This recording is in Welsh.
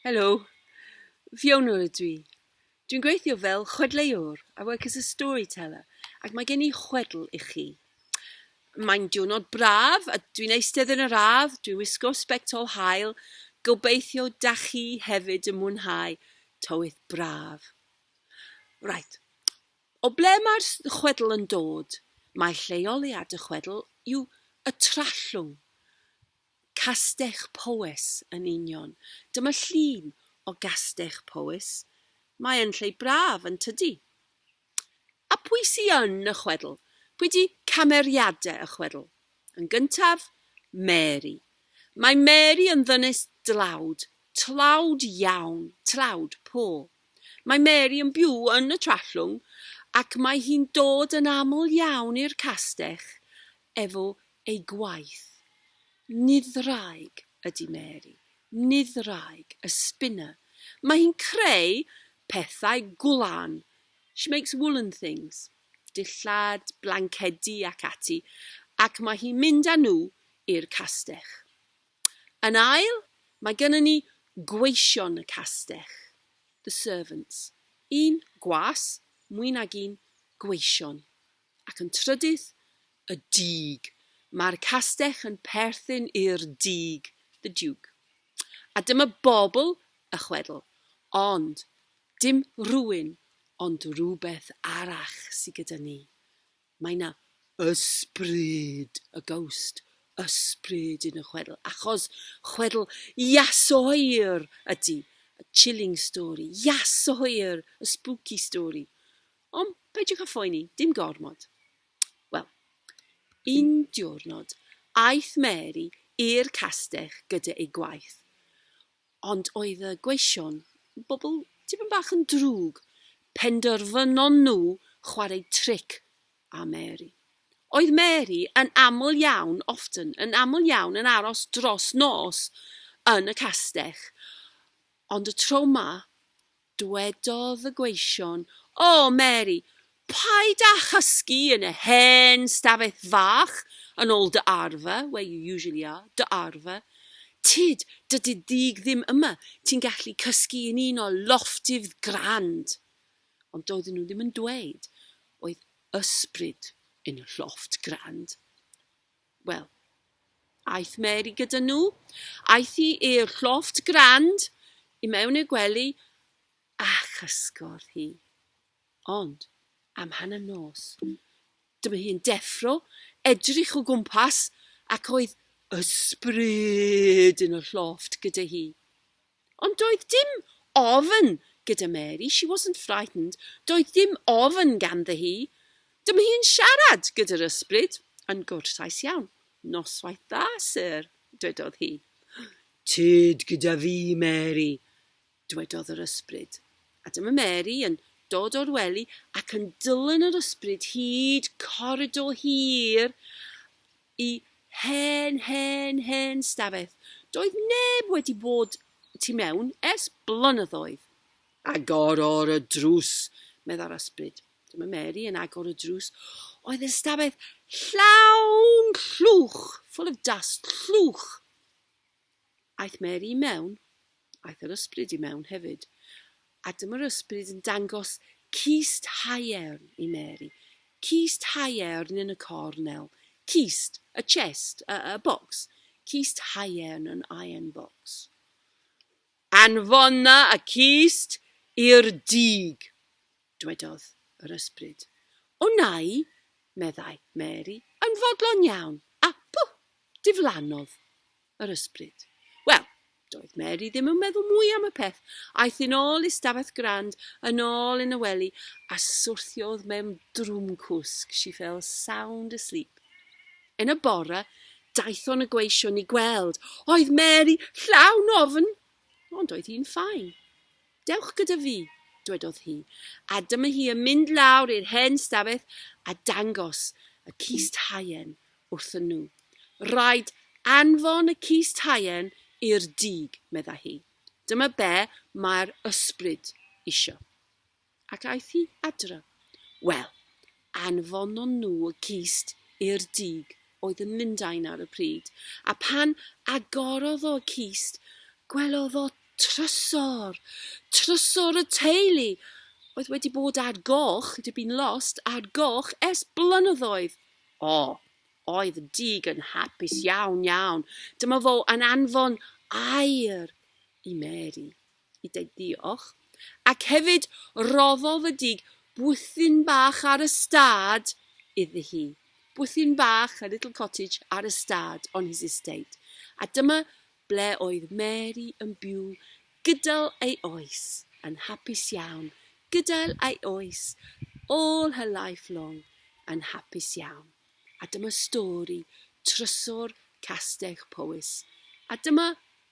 Helo, Fiona ydw i. Dwi'n gweithio fel chwedleuwr, I work as a storyteller, ac mae gen i chwedl i chi. Mae'n diwrnod braf a dwi'n eistedd yn yr ardd, dwi'n wisgo sbect ol haul, gobeithio da chi hefyd yn mwynhau tywydd braf. Right, o ble mae'r s- chwedl yn dod? Mae lleoliad y chwedl yw y Trallwng. Castell Powys, yn union. Dyma llun o Gastell Powys. Mae yn lle braf, yn tydi? A pwy sy yn y chwedl? Pwy 'di cameriade y chwedl? Yn gyntaf, Mary. Mae Mary yn ddynes dlawd, tlawd iawn, tlawd, po. Mae Mary yn byw yn y Trallwng ac mae hi'n dod yn aml iawn i'r castell efo ei gwaith. Nid ddraig ydy Mary, nid ddraig, a spinner. Mae hi'n creu pethau gwlan. She makes woollen things, dillad, blancedi ac ati, ac mae hi'n mynd â nhw i'r castell. Yn ail, mae gynnon ni gweision y castell, the servants. Un gwas, mwy nag un gweision. Ac yn trydydd, y dug. Mae'r castell yn perthyn i'r dug, the duke. A dyma bobl y chwedl, ond dim rhywun ond rhywbeth arall sy gyda ni. Mae 'na ysbryd, a ghost, ysbryd yn y chwedl, achos chwedl Iasoer ydi, a chilling story, Iasoer, a spooky story. Ond peidiwch â phoeni, dim gormod. Wel, un diwrnod, aeth Mary i'r castell gyda ei gwaith. Ond oedd y gweision, bobl tipyn bach yn drwg, penderfynon nhw chwarae tric â Mary. Oedd Mary yn aml iawn, often, yn aml iawn yn aros dros nos yn y castell, ond y tro 'ma, Dwedodd y gweision, O, Mary, paid â chysgu yn y hen stafell fach yn ôl dy arfer, where you usually are, dy arfer. Tyd, dydy dug ddim yma, ti'n gallu cysgu yn un o lofftifdd grand. Ond doedden nhw ddim yn dweud oedd ysbryd yn y llofft grand. Wel, aeth Mary gyda nhw. Aeth hi i'r llofft grand i mewn i'r gwely a chysgordd hi. Ond, am hanner nos, dyma hi'n deffro, edrych o gwmpas ac oedd ysbryd yn y llofft gyda hi. Ond doedd dim ofn gyda Mary, she wasn't frightened, doedd dim ofn ganddi hi. Dyma hi yn siarad gyda'r ysbryd, yn gwrtais iawn. Noswaith dda, Syr, dwedodd hi. Tyd gyda fi, Mary, dwedodd yr ysbryd. A dyma Mary yn dod o'r wely ac yn dylan yr ysbryd hyd coridor hir Y hen, hen, hen stafell. Doedd neb wedi bod tu mewn ers blynyddoedd. Agorodd y drws, meddai'r ysbryd. Dyma Mary yn agor y drws. Oedd y stafell llawn llwch, full of dust, llwch. Aeth Mary i mewn, aeth yr ysbryd i mewn hefyd, a dyma'r ysbryd yn dangos cist haearn i Mary. Cist haearn yn y cornel. Cist, a chest, a, a box. Cist haearn, an iron box. Anfona y cist i'r dug. dwedodd yr ysbryd. O nai, meddai Mary, yn fodlon iawn, a pw! diflannodd yr ysbryd. Wel, doedd Mary ddim yn meddwl mwy am y peth. Aeth yn ôl i stafell grand, yn ôl yn y wely, a swrthiodd mewn drwm cwsg, she fell sound asleep. Yn y bore, daethon y gweision i gweld. Oedd Mary llawn ofn, ond oedd hi'n ffain. Dewch gyda fi, dwedodd hi, a dyma hi yn mynd lawr i'r hen stafell a dangos y cist haearn wrthyn nhw. Rhaid anfon y cist haearn i'r dug, medda hi. Dyma be mae'r ysbryd isio. Ac aeth hi adra. Wel, anfonon nhw y cist i'r dug oedd yn Lundain ar y pryd, a phan agorodd o y cist, gwelodd o trysor! Trysor y teulu! Oedd wedi bod ar goch, it had been lost, ar goch ers blynyddoedd! O! Oedd y dug yn hapus iawn, iawn. Dyma fo yn anfon air i Mary. i deud diolch, ac hefyd roddodd y dug bwthyn bach ar y stad iddi hi. Bwthyn bach, a little cottage, ar y stad, on his estate. A dyma ble oedd Mary yn byw gydol ei oes, yn hapus iawn, gydol ei oes, all her life long, yn hapus iawn. A dyma stori trysor Castell Powys. A dyma